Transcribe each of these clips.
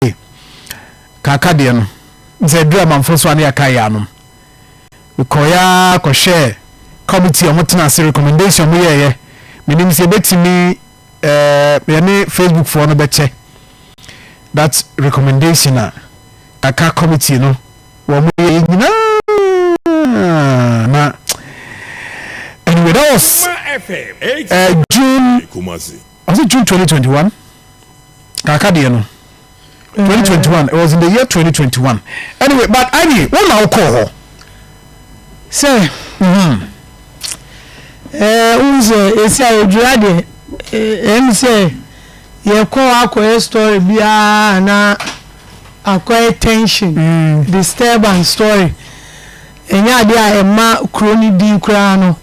Ee, kaaka deɛ no, ne sɛ yɛduruu Amanfoɔ so a na yɛakae yɛn anom. Mekɔeɛ ara kɔhwɛɛ committee a wɔtena ase recommendation a wɔyɛeɛ, menim sɛ yɛbɛtumi eh, yɛne Facebook foɔ no bɛkyɛ that recommendation a kaaka committee no wɔyɛeɛ nyinaa na anyway that was eh, June. Ɔse June twenty twenty one kaka deɛ no twenty twenty one it was in the year twenty twenty one anyway but annie wo na wo kɔɔ hɔ sɛ hmm ɛɛ wo sɛ esi a odwira deɛ ɛm sɛ yɛ kɔ akɔyɛ story biara na akɔyɛ tension mm. disturbance story ɛnyɛ adeɛ a ɛma kuro no din koraa no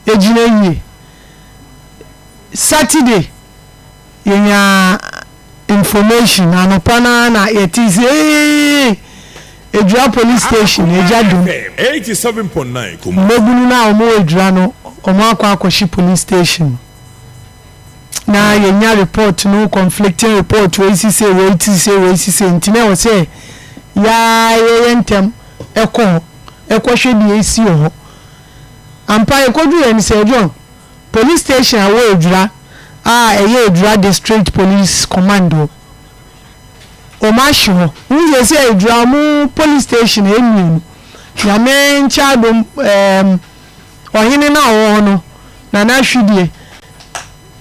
egyina yie. Saturday yɛnyaa information anɔpa no ara na yɛtee sɛ eeii Adwira police station agya dum. Mmabunu no a wɔwɔ Adwira no wɔakɔ akɔhye police station na yɛnya report no conflicting report wei si sei wei si sei wei si sei nti na ɛwɔ sɛ yɛayɛ ntɛm ɛkɔ hɔ ɛkɔhwɛ deɛ esi wɔ hɔ ampa yɛkɔduru yɛn sɛ John Police station a ɛwɔ Ejura a ɛyɛ Ejura District Police Command wɔ Omashi hɔ. Wohu sɛ sɛ Ejura wɔn police station ɛyɛ mmienu. Nyame nkyɛ adom ɛɛm ɔhene no a ɔwɔ hɔ no Nana Ahwidie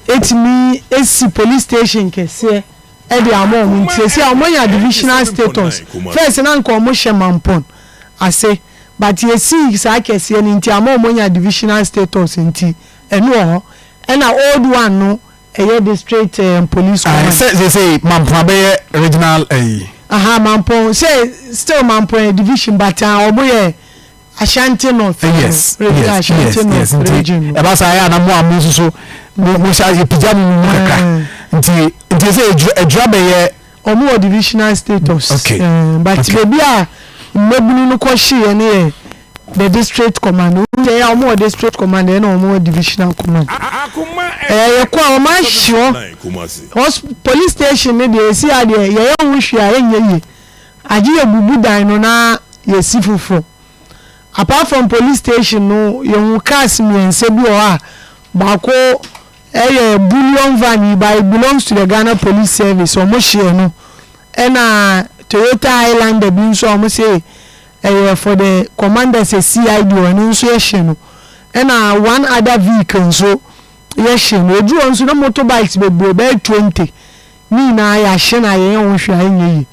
ɛtumi ɛsi police station kɛseɛ ɛde ama wɔn nti seesei wɔn anya divisional status. First no anka wɔn hyɛ Mampon ase. but yɛsii saa kɛseɛ no nti ama wɔn anya divisional status nti ɛno wɔ hɔ ɛna old one no ɛyɛ district eh, police Aye, command. sɛ seesei Mampon abɛyɛ regional ayi. Aha, Mampon, sɛ still Mampon yɛ division but ah, wɔn yɛ Ashanti North no, Yes, region yes, yes, Ashanti yes. North Nti region no. ɛba saa ɛyɛ a na mo a mo nso so mo mo hyɛ yɛpagya mo mu kakra. Aye. Nti nti sɛ adwira adwira bɛyɛ. Ɔmo wɔ divisional status. Okay. Ɛɛ but okay. beebi a mmabunu no kɔ hyeeɛ no yɛ the district command. Ɛyɛ a ɔmo wɔ district command ɛna ɔmo wɔ divisional command. Ɛyɛ yɛ kɔ a ɔmo ahyeɔ hos police station no deɛ esi a deɛ yɛyɛ ho hwee a ɛnyɛ yie. Agye yɛ bubu dan no na yɛsi foforɔ. Apart from police station no yɛhu cars mmiɛnsa bi wɔ hɔ a baako Ɛyɛ bullion van yi but it belongs to the Ghana police service ɔmo hyeɛ no ɛna Toyota Highlander bi nso a ɔmo se ɛyɛ for the commander sɛ CID hɔ ɛno nso yɛ hye no ɛna one other vehicle nso yɛ hye no eduru hɔ nso na motor bikes bebree bɛyɛ twenty ne nyinaa yahye na yɛnyɛ ho hwee a ɛnyɛ yie.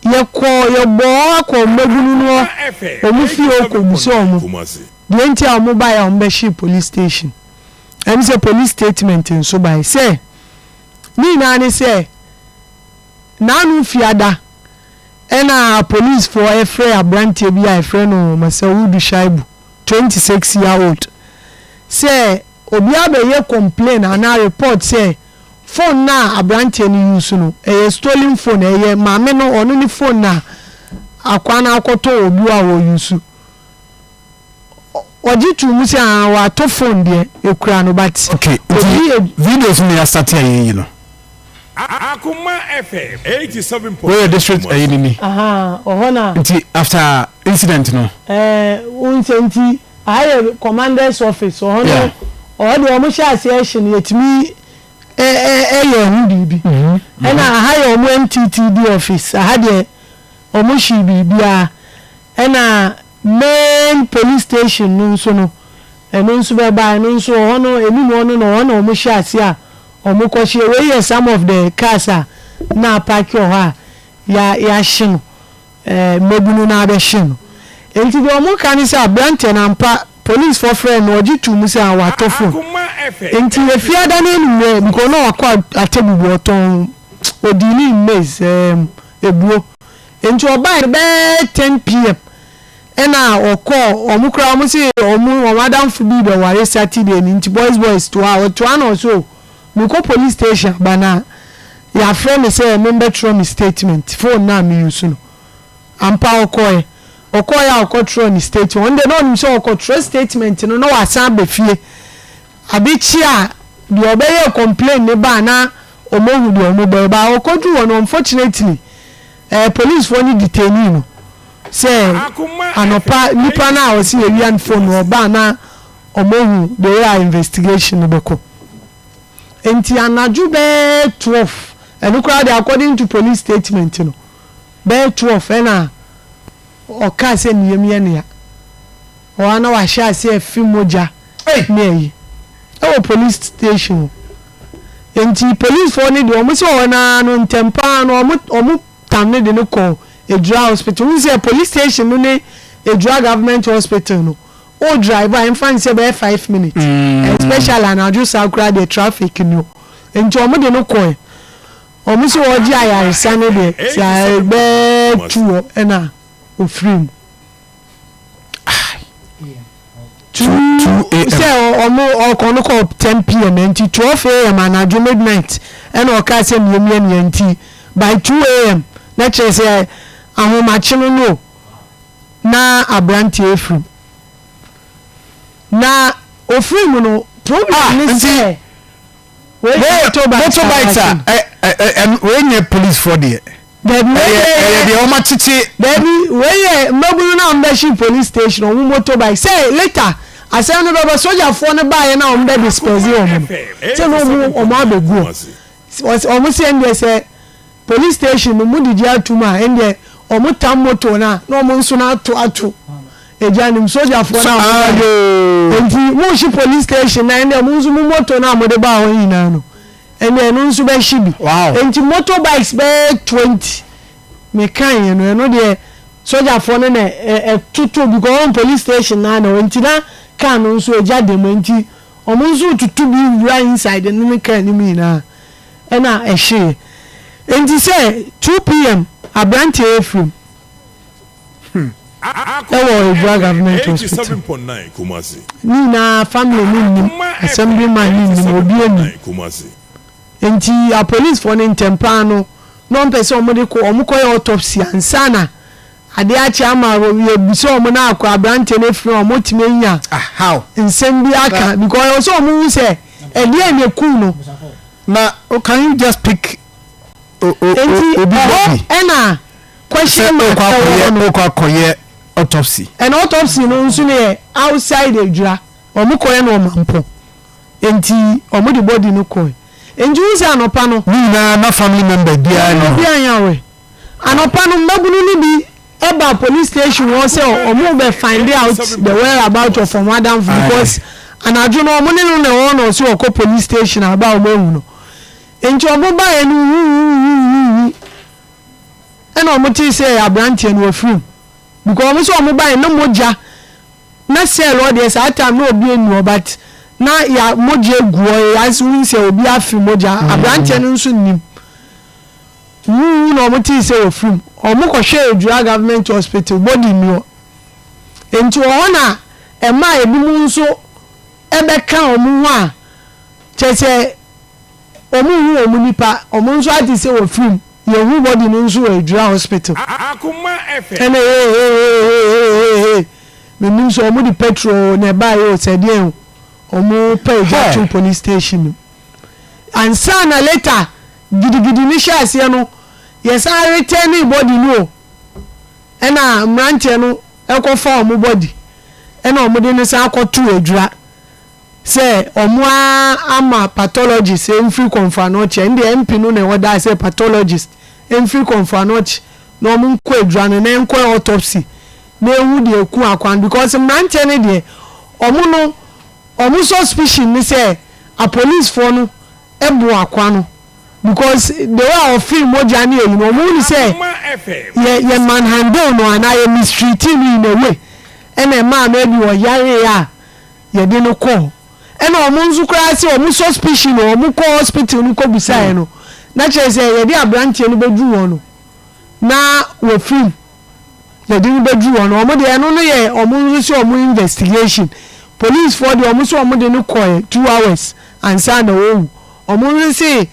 Yɛkɔɔ yɛbɔɔ hɔ akɔ wɔn mmabunu no wɔn fie hɔ kɔ bisa wɔn deɛ nti a wɔn baeɛ a wɔn bɛhyee police station ɛne sɛ police statement nso baeɛ sɛ ne nyinaa ne sɛ naanom fiada ɛna police foɔ ɛfrɛ abranteɛ bi a ɛfrɛ no Masawudu Shaibu 26 year old sɛ obiara bɛyɛ complain anaa report sɛ Phone no a abranteɛ no use no ɛyɛ stolen phone ɛyɛ maame no ɔno ne phone no a akwaa no akɔtɔ wɔ obi hɔ a wɔ use ɔgye too mu sɛ ahaa watɔ phone deɛ ɛkura no but obi ɛ. Okay nti videos na yɛ asate a yɛyi no. Akoma FM eighty seven point nine. Woyɛ district ɛyi no ni. Ahaa ɔhɔ na. Nti after incident no. Ɛɛ wonsɛ nti. Aha yɛ commanders office wɔ hɔ no ɔhɔ deɛ wɔn hyɛ aseɛ ɛhye no yɛtumi ɛyɛ ɛho biribi ɛna aha yɛ wɔn NTTD office aha deɛ wɔn hyee biribiara ɛna main police station no nso no ɛno nso bɛba ɛno nso wɔ hɔ no ɛnum hɔ no na wɔn na wɔn hyɛ aseɛ a wɔn kɔ hyɛ wei yɛ some of the cars a na apaaki wɔ hɔ a yɛahye no. mbabunu no abɛhye no. Ntsi dza wɔka nye sɛ aberantsɛ no ampa polisfoɔ frɛɛ no na wɔgye too mu sɛ ɔatɔ fon. Ntsi Efiada n'enumerɛ because na ɔakɔ Atebu do ɔtɔn odii ne maize erm ebuo. Ntsi ɔbae no bɛyɛ ten PM na ɔkɔɔ wɔn koraa wɔn se wɔn wɔn adamfo bi rebɛware Saturday no ntsi boys boys toa hɔ toa na ɔse oh Mekɔ police station aba no a, yɛafrɛ me sɛ membɛtwerɛ me statement, phone no a me use no. Ampa ara ɔkɔeɛ. Ɔkɔeɛ a ɔkɔtwerɛɛ ne statement. Ɔno deɛ na ɔnim sɛ ɔkɔtwerɛ statement no na wasan aba fie. Ade kye a deɛ ɔbɛyɛɛ complain no baa na wɔahu deɛ wɔbɛyɛ but ɔkɔduruu hɔ no unfortunately eh, policefoɔ no detainee no sɛ anɔpa nipa no a ɔse yɛwia no phone no ɔbaa na Wɔahu bea a investigation no bɛkɔ. Enti anadwo bɛyɛ twelve, ɛno koraa deɛ according to police statement no, bɛyɛ twelve ɛna ɔkaa sɛ ne yam yɛ no ya. Ɛhɔ ara na wahyɛ aseɛ refe mogya ne ayi wɔ police station hɔ. Enti policefoɔ no deɛ, wɔse hɔ no ara no, ntɛm pa ara no, wɔtam no de no kɔɔ Adura Hospital. Wohu sɛ police station no ne Adura Government Hospital no, Wo drive a ɛmfa nsɛ bɛyɛ five minutes especially anadwo saa koraa deɛ traffic ni o nti wɔn de no kɔɛ wɔn sɛ wɔregye ayaresa no deɛ sɛ bɛɛ two hɔ ɛna ofiri mu two sɛ wɔn ɔkɔ no kɔ ten pm nti twelve am anadwo midnight ɛna ɔkaa sɛ mmiamia nea nti by two am na kyerɛ sɛ ahomakye no no o. na aberanteɛ afirim na ofiri mu no problem ah, ne sɛ motorbikes a ah, eh, eh, wei nyɛ police foɔ deɛ ɛyɛ deɛ wɔn akyekye daabi wei yɛ mmabunu no a wɔbɛhye police station wɔn motorbike sɛ later asɛm no bɛbɛ sogyafoɔ no baeɛ na wɔn bɛ disperse wɔn no sɛ na wɔn wɔn abɛguo wɔn sɛ ɛndeɛ sɛ Police station no mo didi atum a ɛndeɛ ɔmo tam motor no a na ɔmo nso no ato ato egya no mu sogyafoɔ no a ɔmo baeɛ no ɛnti mo hye police station no a ɛndeɛ mo nso mo motor no a mode baa hɔ no nyinaa no ɛndeɛ ɛno nso bɛ hye bi ɛnti motor bikes bɛyɛ twenty me kaeɛ no ɛno deɛ sogyafoɔ no na ɛtoto because wɔn police station no ara na ɛwɔ ɛnti na car no nso egya da mu ɛnti ɔmo nso retutu bi wura inside no ne car no mu nyinaa. na ɛhyeeɛ. Enti sɛ 2 PM aberanteɛ yɛ firim wɔ Adwira Government Hospital. Ne nyinaa family no nnim, Assemblyman no nnim, obiara nnim. Enti apolicefoɔ no ntɛmpaa no na wɔpɛ sɛ wɔde kɔ, wɔkɔyɛ autopsy ansa na Ade akye ama yɛbisa wɔn na akɔ aberanteɛ no afiri wɔn tumi anya nsɛm bi aka because ɛwɔ sɛ wɔn hu sɛ ɛdeɛ na ekum no. Na oh, can you just pick obi bɔbi ɛna question mark ɛwɔ hɔ no ɔkɔ akɔyɛ autopsy ɛna autopsy no nso no yɛ outside adwira wɔn kɔyɛ no ɔmampɔ nti wɔn de body no kɔɛ nti wɔn sɛ anɔpa no. Ne nyinaa na family member biara ni hɔ. Obi anyawɛ. Anɔpa no, mmabunu no bi baa police station hɔ sɛ wɔn bɛ find out the where about of wɔn adamfo because anadwo no wɔn ne no na ɛwɔ na ɔsi wɔkɔ police station a aba a wɔn ehu no. Nti wɔn baeɛ no huhuhuhuhu ɛna wɔn tee sɛ aberanteɛ no wafiri mu because wɔn sɛ wɔn baeɛ na mogya na cell hɔ deɛ saa time na obi eni hɔ but na ya mogya egu hɔ yɛ ayɛ sɛ wɔn sɛ obi afiri mogya aberanteɛ no nso nim. Wuwu na wɔtee sɛ wafiri mu. Wɔkɔhwɛɛ Adwira Government Hospital, body nni hɔ. Enti wɔ hɔ na ɛmaa ebinom nso bɛka wɔn ho a kyerɛ sɛ wɔnhu wɔn nipa, wɔn nso ate sɛ wafiri mu. Yɛhuu body no nso wɔ Adwira Hospital. Ɛnna hehehehehehe, mennim sɛ wɔde petrol na ɛbaeɛ o, sɛ deɛn o, wɔpaa gya too police station no mu. Ansa na later. Gidigidi no hyɛɛ aseɛ no yɛsan retɛɛnee body no o ɛna mmeranteɛ no kɔ fa wɔn body ɛna wɔn de no san kɔ too adwira sɛ wɔn a ama pathologist mfiri Kɔmfoanoɔkye ɛno deɛ MP no na ɔdaa sɛ pathologist mfiri Kɔmfoanoɔkye na wɔn nkɔ adwira no na ɛnkɔ yɛ autopsy na ɛhu deɛ ɛku akoa no because mmeranteɛ no deɛ wɔn no wɔn suspicion ne sɛ apolicefoɔ no ɛboa akoa no because the way a ɔfeel mogya ne ayi no ɔmo hunu sɛ yɛ yɛ man handle no anaa yɛ mistreating no in a way ɛna ɛmaa no ɛbi ɔyaree a yɛde no kɔɔ ɛna ɔmo nso koraa sɛ ɔmo suspicion no ɔmo kɔ hospital no kɔ bisaeɛ no na kyerɛ sɛ yɛde abranteɛ no bɛduru hɔ no na wafiri mu. yɛde no bɛduru hɔ no wɔn deɛ ɛno no yɛ wɔn nso sɛ wɔn investigation policefoɔ deɛ wɔn sɛ wɔn de no kɔɛ two hours ansa na wɔwu wɔn nso sɛ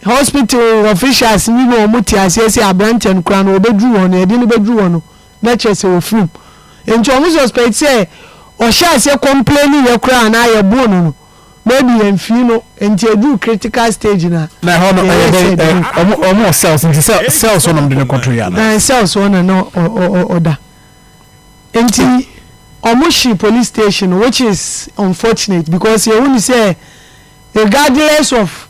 hospital officials no na wɔn te aseɛ sɛ aberanteɛ no koraa no wɔbɛduru hɔ no yɛde no bɛduru hɔ no na kyerɛ sɛ wɔfirim nti wɔn suspect sɛ ɔhyɛ aseɛ complaining yɛ koraa na yɛboo no no Maybe yɛnfii no nti ɛduru critical stage no a Na ɛhɔ no ɛyɛ dɛn? Ɛ, wɔn, wɔn wɔ cells nti cell, cells hɔ na wɔde no kɔtoeɛ anaa? Ɛɛ, cells hɔ na na ɔ, ɔ, ɔ, ɔda. Nti wɔhyee police station no which is unfortunate because yɛhu no sɛ regardless of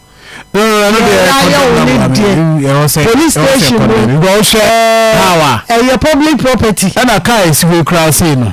No, no, no, ɛno deɛ deɛ yɛayɛ contact wo ne number deɛ, no, ɛwɔ sɛ, ɛwɔ sɛ police station contact no, number. Because wohwɛ how a, ɛɛ, ɛyɛ public property. ɛna kaa ɛsi hɔ yi koraa sei no.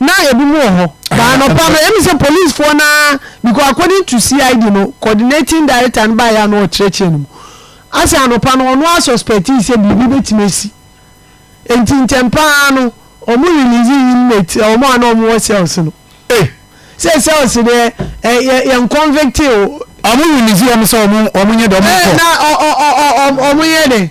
Na ebi mu wɔ hɔ. But anɔpa no, emi sɛ policefoɔ no ara, because according to CID no, coordinating director no baeɛ a na ɔkyerɛkyerɛ no mu. Asɛ anɔpa no, ɔno ara suspectii sɛ biribi bɛtumi asi. Enti ntɛm pa ara no, wɔn release inmates, wɔn a na wɔwɔ cells no. Ei! Sɛ cells deɛ, ɛ, yɛ, yɛn convictee o. Wɔn release wɔn sɛ wɔn, wɔn nyɛ dɛ, wɔn nkɔ. Ɛ, na ɔ, ɔ, ɔ, ɔ, wɔn, wɔn yɛ dɛ.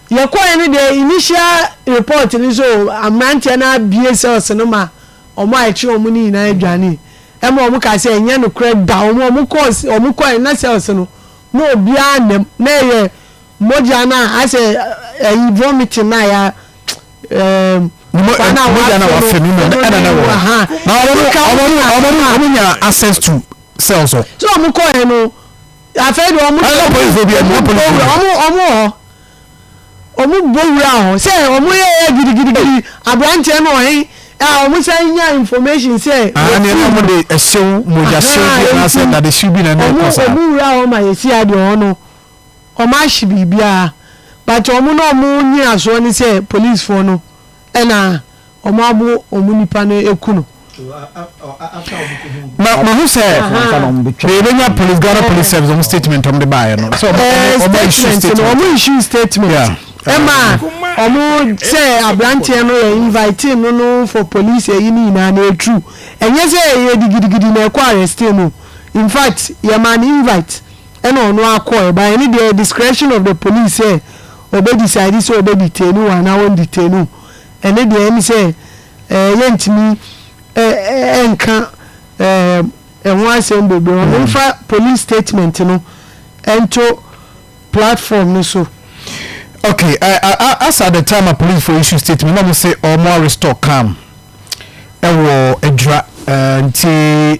Yɛkɔɔɛ no deɛ initial report no sɛ oo aberanteɛ no abue cells no ma wɔn a ɛkyere wɔn no nyinaa dwanee. Ɛma wɔn kaa sɛ ɛnyɛ nokorɛ da, wɔn a wɔn kɔɔɛ no na cells no na obiara nna mu, na ɛyɛ mogya no a asɛ ayi vomiting no a ya ɛɛm nipa no a wafe no ɛno ne mu ahaa. Na wɔn nya access to cells hɔ. Sɛ wɔn kɔɔɛ no afei deɛ wɔn deɛ wɔn wɔ hɔ. Wɔbobɔ wuraa hɔ sɛ wɔyɛɛ gidigidigidi aberanteɛ no ɔhen a wɔsan nyaa information sɛ wɔkum no. Aane na wɔde ɛhyew, mogyahyew bi anaasɛ dadehyew bi na ɛne ɛkɔ saa. Wɔn wuraa hɔ ma yɛsi adeɛ hɔ no, wɔahye biribiara but wɔn na wɔn nyinasoɔ ne sɛ policefoɔ no Ɛna wɔn abo wɔn nipa no aku no. Na mahu sɛ yɛbɛnya police Ghana police service wɔn statement wɔn de baayɛ no sɛ wɔn issue statement wɔn issue statement ɛma wɔn sɛ aberanteɛ no yɛ invite no no for police ɛyi ne nyinaa na yɛ true ɛnyɛ sɛ yɛ digidigidi na ɛkɔ arrest no in fact yɛ maa no invite ɛna ɔno akɔ ɛba ɛne deɛ discretion of the police sɛ. Ɔbɛ decide sɛ ɔbɛ detain wo anaa ɔn detain wo, ɛne deɛ ɛne sɛ ɛɛ yɛntumi ɛɛ nka ɛɛ ɛho asɛm bebree, ɔno nfa police statement no ɛnto platform no so. Ok, ɛɛ as at the time a police foɔ issue statement na ɔmo se ɔmo arestɔ Kham ɛwɔ Adwira ɛɛ nti.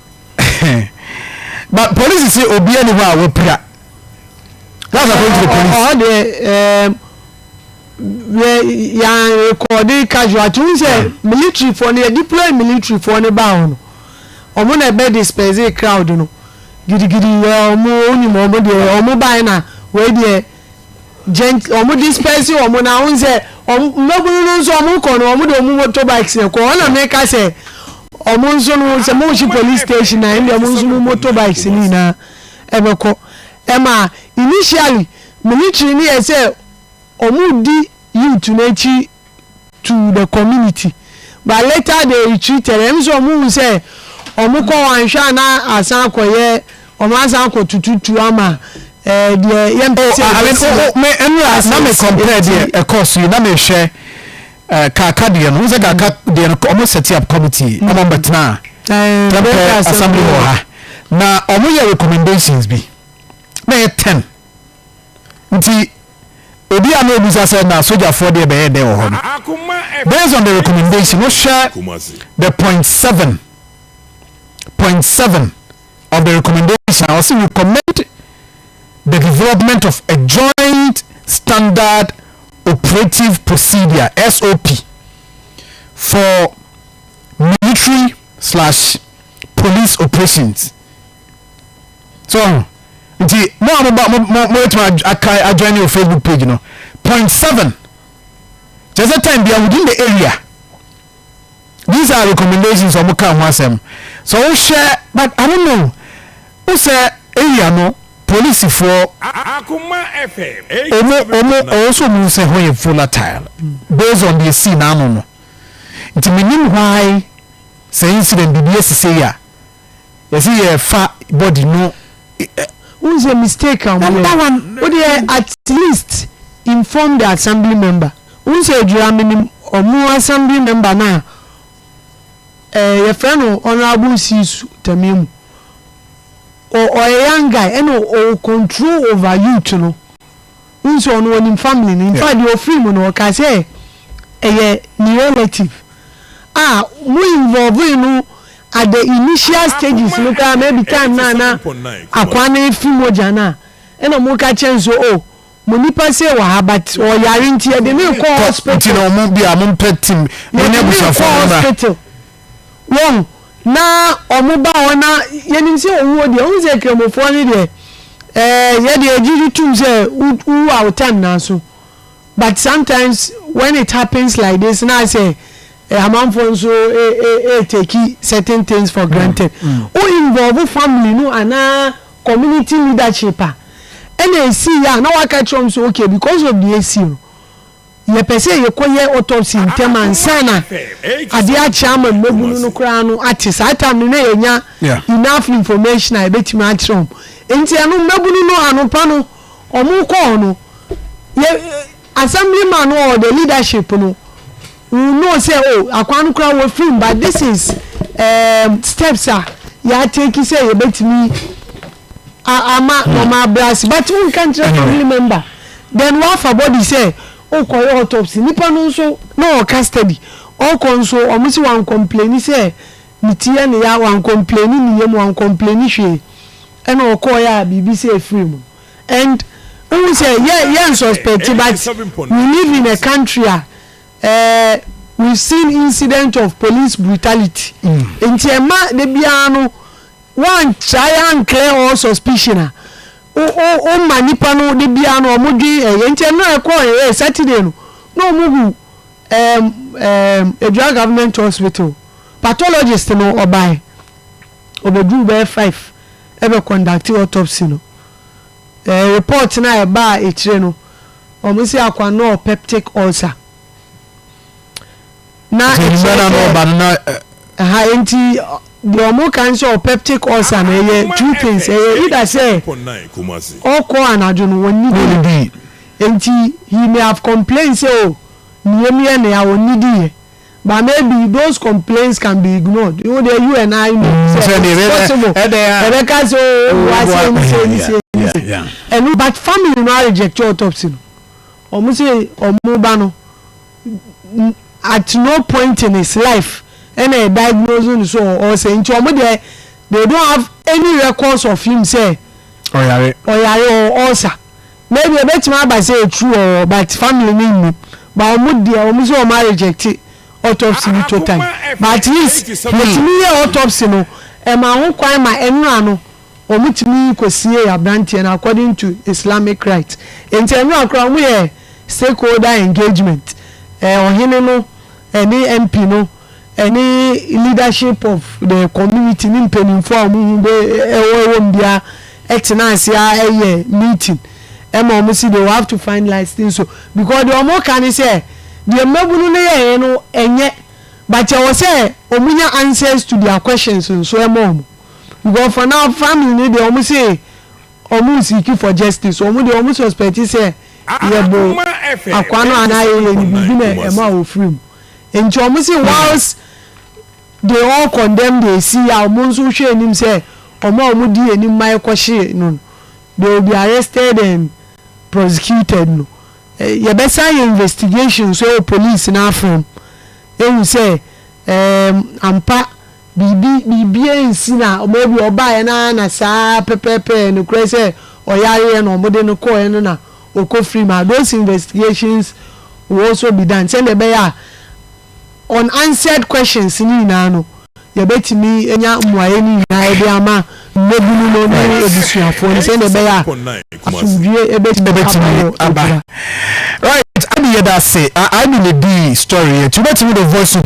but police se obia ni hɔ a wapira that's according to the police. ɔhɔ deɛ ɛɛm yɛ yan rekɔɔde casualty n sɛ military foɔ no yɛ deploy military foɔ no baa hɔ no ɔmo na ɛbɛ disperse crowd no gidigidi yɛ ɔmo onim ɔmo deɛ ɔmo bae na wei deɛ. Gent wɔn disperse wɔn na wɔn sɛ wɔn mmabunu no nso wɔn kɔ no wɔn de wɔn motorbikes na kɔ ɔna mi ka sɛ wɔn nso no sɛ mo si police station na ɛnna wɔn nso mo motorbikes ni na ɛbɛ kɔ ɛma initially military ni yɛ sɛ wɔn di youth n'akyi. to the community but later they retreated ɛno sɛ ɔmo hu sɛ ɔmo kɔ hɔ anhwɛ a na asan akɔyɛ ɔmo asan akɔ tututu ama ɛɛ deɛ yɛn pɛ sɛ ɛbɛsi no. Oh, oh, me ɛnu a na me compare deɛ ɛkɔɔ so yi na me hwɛ ɛɛ kaka deɛ no n sɛ kaka deɛ no ɔmo set up committee ɔmo ɔmo bɛtena tɛmpɛ assembly hɔ ha na ɔmo yɛ recommendations bi na yɛ ten. Nti, obi a na obisa sɛ na sogyafoɔ deɛ bɛyɛ dɛn wɔ hɔ no, based on the recommendation no, hwɛ the point seven, point seven of the recommendation a ɔse recommend the development of a joint standard operative procedure, SOP, for military slash police operations. so ɔho nti mo a moba mo mo mobɛtumi aka adwan ne o facebook page no point seven kyerɛ sɛ time bia within the area these are recommendations ɔmo ka ho asɛm so wohwɛ but I don't know wo sɛ area no polisifoɔ ɔmo ɔmo ɔwɔ so ɔmo sɛ hɔ yɛ volatile based on deɛ sii n'ano no nti menim why sɛ incident biribi asisei a yɛsi yɛ fa body no ɛ. Wohu sɛ mistake a wɔyɛ. Number one, wo deɛ at least inform the assembly member. Wohu sɛ Adwira menim wɔn assembly member no a ɛɛ yɛfrɛ no Honourable Siisu Tamiamu. Ɔ ɔyɛ young guy ɛna ɔwɔ control over youth no. Wohu sɛ ɔno ɔnim family no. In fact deɛ ɔfiri mu no ɔkaa sɛ ɛyɛ ne relative a mo involve no At the initial stages no koraa no ebi time no a na akwaa no efi mogya no a nna ɔmo ka kyerɛ no sɛ oh mo nipa sei wɔ ha but ɔyare nti yɛde no rekɔ hospital. Nti na ɔmo bia ɔmo mpɛ tim mo ne abusuafo no mmra. Yɛde no rekɔ hospital wɔn na ɔmo ba hɔ na yɛnim sɛ owuo deɛ wohu sɛ kramofoɔ no deɛ ɛɛ yɛde yɛgye tom sɛ wo wo a wo time no aso. But sometimes when it happens like this na ayɛ sɛ eh, amanfoɔ nso eh, eh, eh, take certain things for granted. Wo involve family no anaa community leadership a, ɛna ɛsii yɛ a na waka kyerɛ wɔn sɛ okay because of deɛ ɛsii no, yɛpɛ sɛ yɛkɔyɛ autopsy ntɛm ansa na adeɛ akyɛ ama mmabunu no koraa no ate. Saa time no na yɛnya Yeah. enough information a yɛbɛtumi akyerɛ wɔn. Nti ɛno mmabunu no anɔpa no Wɔn kɔɔ no, yɛ assembly man or the leadership no will know sɛ oh akwaa no koraa wɔafiri mu but this is um, steps a yɛatake sɛ yɛbɛtumi ama wɔn abra ase but wonka nkyerɛ family member then wafa body sɛ wokɔyɛ autopsy nipa no nso na ɔwɔ custody ɔkɔ nso wɔn si wɔn complaini sɛ Ne ti yɛ ne ya, wankɔmpleni ne yam, wankɔmpleni hwee, ɛna ɔkɔɔeɛ a biribi sɛ ɛfirii mu. And wohu sɛ yɛ yɛ nsuspect but we live in a country a eh, we've seen incident of police brutality nti ɛma da biara no woantrae anclear all suspicion a wo wo woma nnipa no da biara no wɔdwen ɛyɛ nti ɛno a ɛkɔɔeɛ Saturday no na wɔhu Ɛɛm ɛɛm Adua Government Hospital pathologist no ɔbae, ɔbɛduruu bɛyɛ five ɛbɛ conducte autopsy no. Ɛɛ report no a ɛbaa akyire no, wɔn se Akwa nɔɔ peptic ulcer. Na Nti ɛkyerɛ nnwuma no a na sɛ ɔba no na ɛ. Aha enti deɛ wɔn ka ne sɛ ɔwɔ peptic ulcer no ɛyɛ two things, ɛyɛ either sɛ ɔkɔ anadwo no, wɔnnidie. Ɔnnidie. Enti he may have complained sɛ oh, neyam yɛ nea onnidi yɛ, but maybe those complaints can be ignored. Wo deɛ you and I know sɛ it's possible yɛbɛka sɛ oh, ɔboa sei ne sei ne sei ne sei, ɛno but family no arejecte autopsy no. Wɔn se wɔn ba no, at no point in his life ɛna yɛdiagnose no sɛ ɔɔsɛe, nti wɔn deɛ they don't have any records of him sɛ ɔyare or ulcer. maybe ebetumi aba sɛ ɛtru wɔ hɔ but family no nnim but wɔn deɛ wɔn sɛ wɔn arejɛkte autopsy no totally but at least yɛtumi yɛ autopsy no ɛma ho kwan ma nwera no wɔn tumi kɔsiee abranteɛ no according to islamic rites nti nwera koraa wɔn yɛ stakeholder engagement ɛɛ ɔhene no ɛne mp no. ɛne leadership of the community ne mpaninfoɔ a wɔn ho bɛ ɛwɔ ɛwɔ mu bia ɛtena ase a ɛyɛ meeting ɛma wɔn si they will have to finalize things so because deɛ wɔn ka ne sɛ deɛ mmabunu no yɛ yɛ no ɛnyɛ but ɛwɔ sɛ wɔn nya answers to their questions nso ɛma wɔn because for now family ne deɛ wɔn se wɔn seek for justice wɔn deɛ wɔn suspect sɛ yɛ bo akwa no anaa yɛ yɛ ne biribi na ɛma wɔn firi mu. Nti ɔmo se whilst they all condemn the esi a ɔmo nso hwɛ anim sɛ ɔmo a ɔmo di anim ma ɛkɔ hye no no they will be arrested and prosecuted no yɛbɛsan ayɛ investigation nso ɛwɔ police no afam ehu sɛ ɛɛm ampa Biribi, biribiara ansi na wɔn awie, ɔbaeɛ no ara na saa pɛpɛɛpɛ, nokorɛ sɛ ɔyareɛ na wɔde no kɔeɛ no na ɔkɔ free ma, those investigations will also be done sɛdeɛ ɛbɛyɛ a unanswered questions no nyinaa no yɛbɛtumi anya mmuaeɛ no nyinaa de ama mmabunu no ne abusuafoɔ no sɛdeɛ ɛbɛyɛ a asomdwoeɛ bɛtumi aba wɔ Adura. Right, Amy yɛda ase. Amy na edii story yɛ nti wobɛtumi de voice